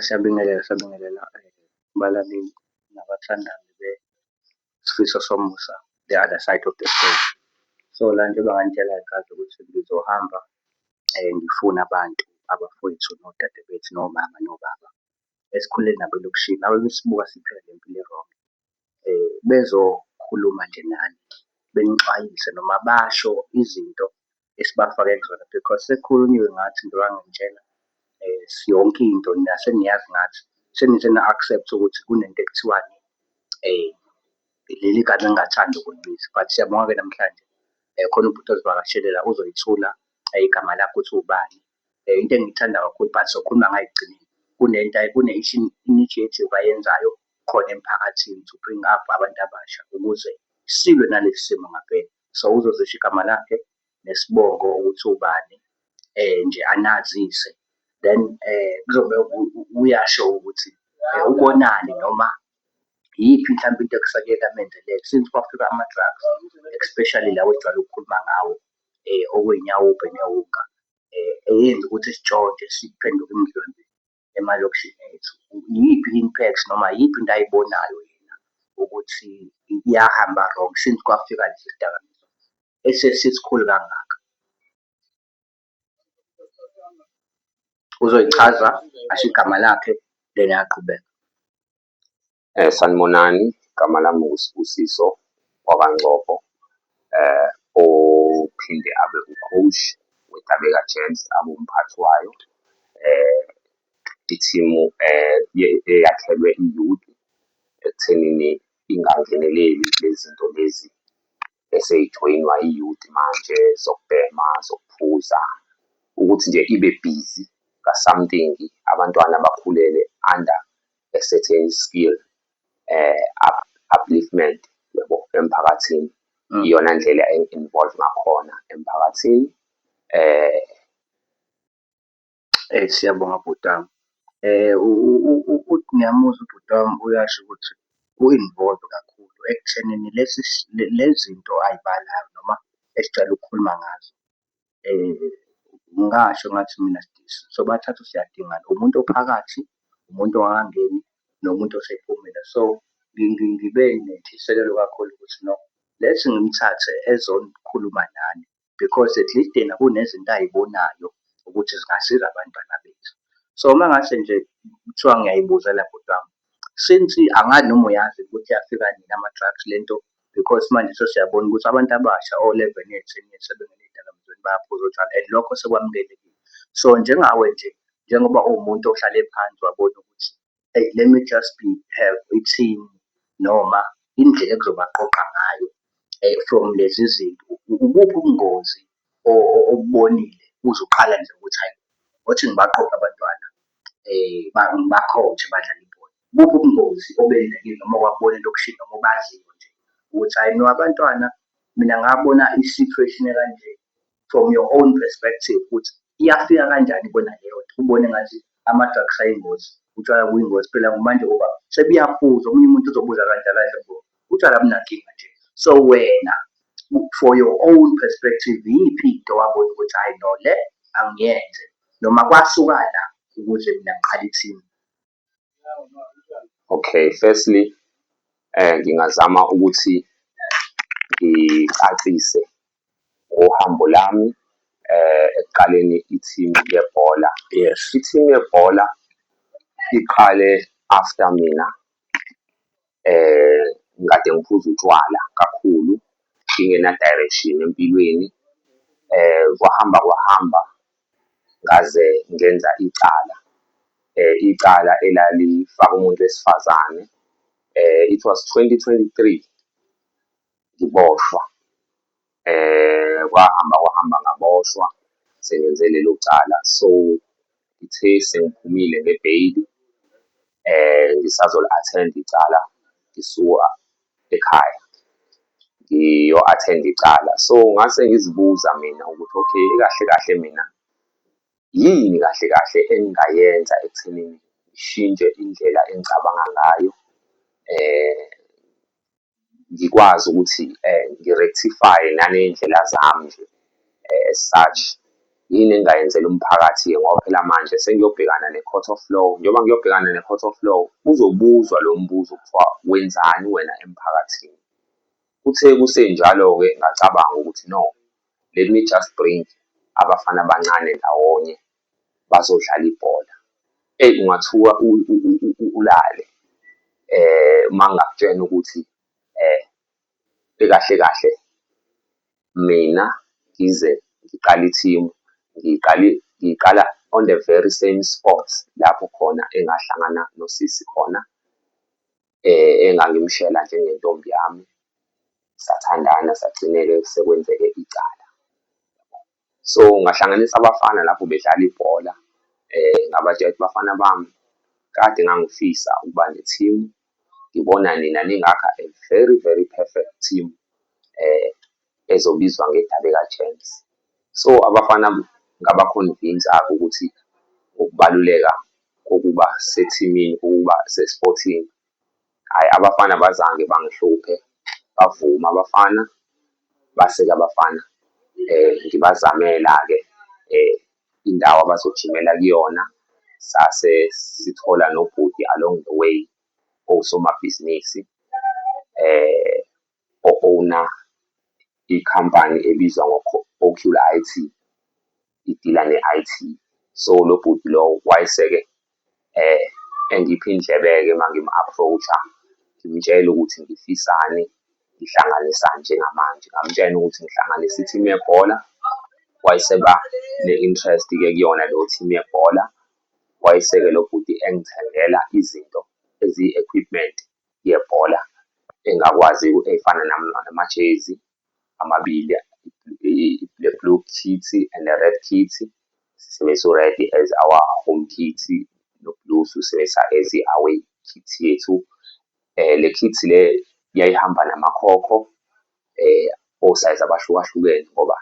Siyabingelela siyabingelela balaleli nabathandazi beSifiso Somusa, The Other Side Of The Story. So, la njengoba nganitshela ngesikhathi ukuthi ngizohamba ngifune abantu abafowethu nodadewethu nomama nobaba esikhule nabo elokishini, nabo besibuka siphila le mpilo e-wrong bezokhuluma nje nani benixwayise noma basho izinto esibafake kuzona because sekukhulunyiwe ngathi njengoba ngangitshela yonke into nina seniyazi ngathi senithe na-accept-a ukuthi kunento ekuthiwani leli gama engingathandi ukulibiza but siyabonga-ke namhlanje khona ubhuti ozivakashele la uzoyithula igama lakho ukuthi ubani. um into engiyithanda kakhulu but sokhuluma ngayo ekugcineni kunento kune-initiative ayenzayo khona emphakathini to bring up abantu abasha ukuze silwe nalesi simo ngampela so uzozisho igama lakhe nesibongo ukuthi ubani um nje anazise then um kuzobe uyasho ukuthi um ubonani noma yiphi mhlawumbe into ekusake kamenzelele since kwafika ama-drugs especially lawo ejwayele ukukhuluma ngawo okuyinyawupe newunga eyenza ukuthi sitshontshe siphenduke imidlwembe emalokishini ethu. Iyiphi i-impact noma iyiphi into ayibonayo yena ukuthi iyahamba wrong since kwafika lesi sidakamizwa esesisikhulu kangaka? Uzoyichaza asho igama lakhe then ayaqhubeka. Eh, sanibonani igama lami ngusibusiso wakangcobo eh ophinde abe ucoach wetabeka gents abe umphathi wayo eh ithimu eh ye- eyakhelwe iyouth ekuthenini ingangeneleli lezinto lezi eseyijoyinwa iyouth manje zokubhema zokuphuza ukuthi nje ibe busy ka something abantwana bakhulele under a certain skill eh up, upliftment yabo emphakathini mm. iyona ndlela engi-involve ngakhona emphakathini eh eh siyabonga bhutami eh ngiyamuzwa ubhutami uyasho ukuthi u-involve kakhulu ekuthenini lezi lezinto ayibalayo noma esicela ukukhuluma ngazo ngingasho ngathi mina sobathathu siyadingana, umuntu ophakathi, umuntu ongakangeni, nomuntu osephumile. So, ngibe nentshisekelo kakhulu ukuthi no, let's ngimthathe ezokhuluma nani because at least yena kunezinto ay'bonayo ukuthi zingasiza abantwana bethu. So, uma ngase nje kuthiwa ngiyay'buzela bhuti wami, since angazi noma uyazi ukuthi afika nini ama drugs lento because manje sesiyabona ukuthi abantu abasha o 11 years 10 years sebengena ezidakamizweni bayaphuza utshwala and lokho sekwamukelekile so njengawe nje njengoba uwumuntu ohlale phansi wabona ukuthi hey let me just be have ithini noma indlela ekuzobaqoqa ngayo eh, from lezi zinto ubuphi ubungozi okubonile uze uqale nje ukuthi hhayi othi ngibaqophe abantwana ngiba-coach-e badlale ibhola. Ibuphi ubungozi obenzekile noma owabona into okushilo noma obaziyo nje ukuthi hhayi no abantwana mina ngabona i-situation ekanje from your own perspective ukuthi iyafika kanjani kubona leyonto ubone ngathi ama-drugs ayingozi, utshwala buyingozi phela manje ngoba sebuyaphuzwa omunye umuntu uzobuza kanje akadle buya. Utshwala abunankinga nje. So wena for your own perspective iyiphi into wabona ukuthi hayi no le angiyenze noma kwasuka la ukuze mina ngiqale ithini? Okay, firstly um ngingazama ukuthi ngicacise ngohambo lami ekuqaleni i-team yebhola. Yes. I-team yebhola iqale after mina ngikade ngiphuza utshwala kakhulu, ngingena direction empilweni. Kwahamba kwahamba ngaze ngenza icala, icala elalifaka umuntu wesifazane. It was twenty twenty-three. ngiboshwa eh kwahamba kwahamba ngaboshwa sengenze lelo cala so ngithe sengiphumile ngebheyili eh ngisazoli-attend icala ngisuka ekhaya ngiyo-attend icala so ngase ngizibuza mina ukuthi okay kahle kahle mina yini kahle kahle engingayenza ekuthenini ngishintshe indlela engicabanga ngayo eh ngikwazi ukuthi ngi-rectify-e naney'ndlela zami nje as such. Yini engingayenzela umphakathi-ke ngoba phela manje sengiyobhekana ne-court of law. Njengoba ngiyobhekana ne-court of law, kuzobuzwa lo mbuzo kuthiwa wenzani wena emphakathini. Kuthe kusenjalo-ke ngacabanga ukuthi no let me just bring abafana abancane ndawonye bazodlala ibhola. Eyi ungathuka ulale uma ngingakutshena ukuthi kahle kahle mina ngize ngiqale ithimu ngiqale ngiqala on the very same spot lapho khona engahlangana nosisi khona. eh, engangimshela njengentombi yami sathandana sagcineke sekwenzeke icala so ngahlanganisa abafana lapho bedlala ibhola eh ngabatshela ukuthi bafana bami kade ngangifisa ukuba ne-team ngibona nina ningakha a very very perfect team eh ezobizwa ngedabe ka James so abafana ngaba convince ake ukuthi ngokubaluleka kokuba sethimini ukuba se Sporting ay abafana abazange bangihluphe bavuma abafana base ke abafana eh ngibazamela ke eh indawo abazojimela kuyona sase sithola nobhuti along the way osomabhizinisi eh o-owna ikhampani ebizwa ngo-Ocule I_T, idila nge-I_T. So, lo bhuti lo wayeseke engipha indlebe-ke uma ngimu-approach-a, ngimtshela ukuthi ngifisani, ngihlanganisani njengamanje. Ngamtshena ukuthi ngihlanganisa i-team yebhola, wayeseba ne-interest-ke kuyona leyo team yebhola. Wayeseke lo bhuti engithengela izinto eziyi-equipment yebhola engakwazi efana namajezi amabili le-blue kit and ne-red kit, sisebenzisa u-red as our home kit no-blue siwusebenzisa as i-away kit yethu. Le kit le yayihamba namakhokho osayizi abahlukahlukene ngoba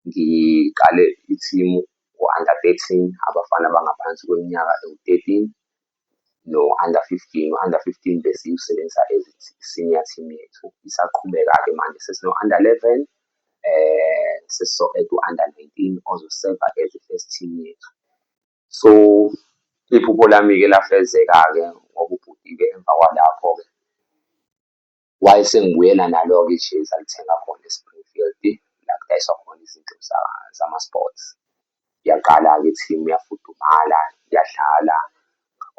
ngiqale ithimu ngo-under thirteen, abafana abangaphansi kweminyaka ewu-thirteen. no-under fifteen, u-under fifteen besiwusebenzisa as i-senior team yethu. Isaqhubeka-ke manje sesino-under eleven, sesizo-add u-under nineteen ozoseva as i-first team yethu. So iphupho lami-ke lafezeka-ke ngoba ubhuti-ke emva kwalapho-ke Why sengibuyela nalo-ke ijezi alithenga khona eSpringfield la kudayiswa khona izinto zama-sports. Yaqala-ke i-team yafudumala, yadlala,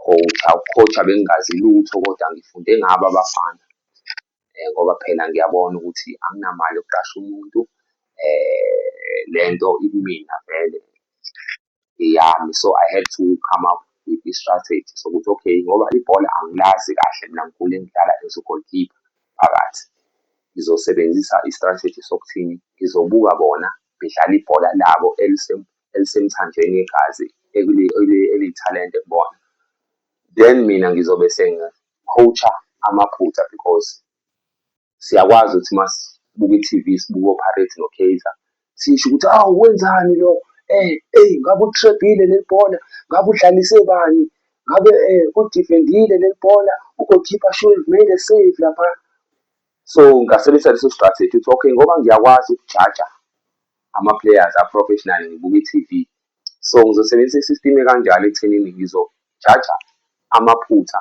coach-a. Uku-coach-a bengingazi lutho kodwa ngifunde ngabo abafana ngoba phela ngiyabona ukuthi anginamali yokuqasha umuntu le nto ikumina vele. eyami so I had to come up with i-strategy sokuthi okay ngoba ibhola angilazi kahle mina ngikhule ngidlala as u-goalkeeper phakathi. Ngizosebenzisa i-strategy sokuthini ngizobuka bona bedlala ibhola labo elisemthanjeni yegazi eliyithalente kubona. Then mina ngizobe sengi-coach-a amaphutha because. siyakwazi ukuthi masibuka i-TV sibuka oPirates noKaizer sisho ukuthi awu wenzani lo eh eyi ngabe utrebhile leli bhola ngabe udlalise bani ngabe eh udifendile leli bhola ugoalkeeper should have made a save lapha so ngasebenzisa leso strategy ukuthi okay ngoba ngiyakwazi ukujaja ama-players a-professional ngibuka i-TV so ngizosebenzisa i-system ekanjalo ekuthenini ngizojaja amaphutha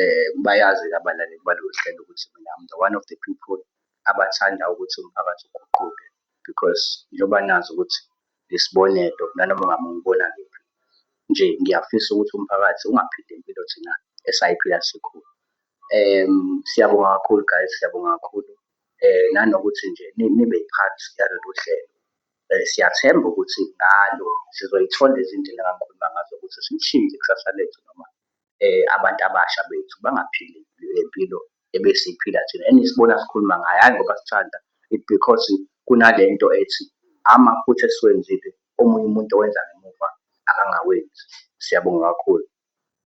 um bayazi-ke abalaleli balolu hlelo ukuthi mina I'm the one of the people abathanda ukuthi umphakathi uguquke because njengoba nazi ukuthi ngesibonelo nanoma ngabe ungibona kuphi nje ngiyafisa ukuthi umphakathi ungaphili impilo thina esayiphila sikhulu. Um siyabonga kakhulu guys, siyabonga kakhulu um nanokuthi nje nibe yi-part yalolu hlelo. Um siyathemba ukuthi ngalo sizoyithola izindlela engangikhuluma ngazo ukuthi silishintshe ikusasa lethu noma abantu abasha bethu bangaphili le mpilo ebesiyiphila thina enisibona sikhuluma ngayo, hhayi ngoba sithanda it because kunale nto ethi amaphutha esiwenzile omunye umuntu owenza ngemuva akangawenzi. Siyabonga kakhulu.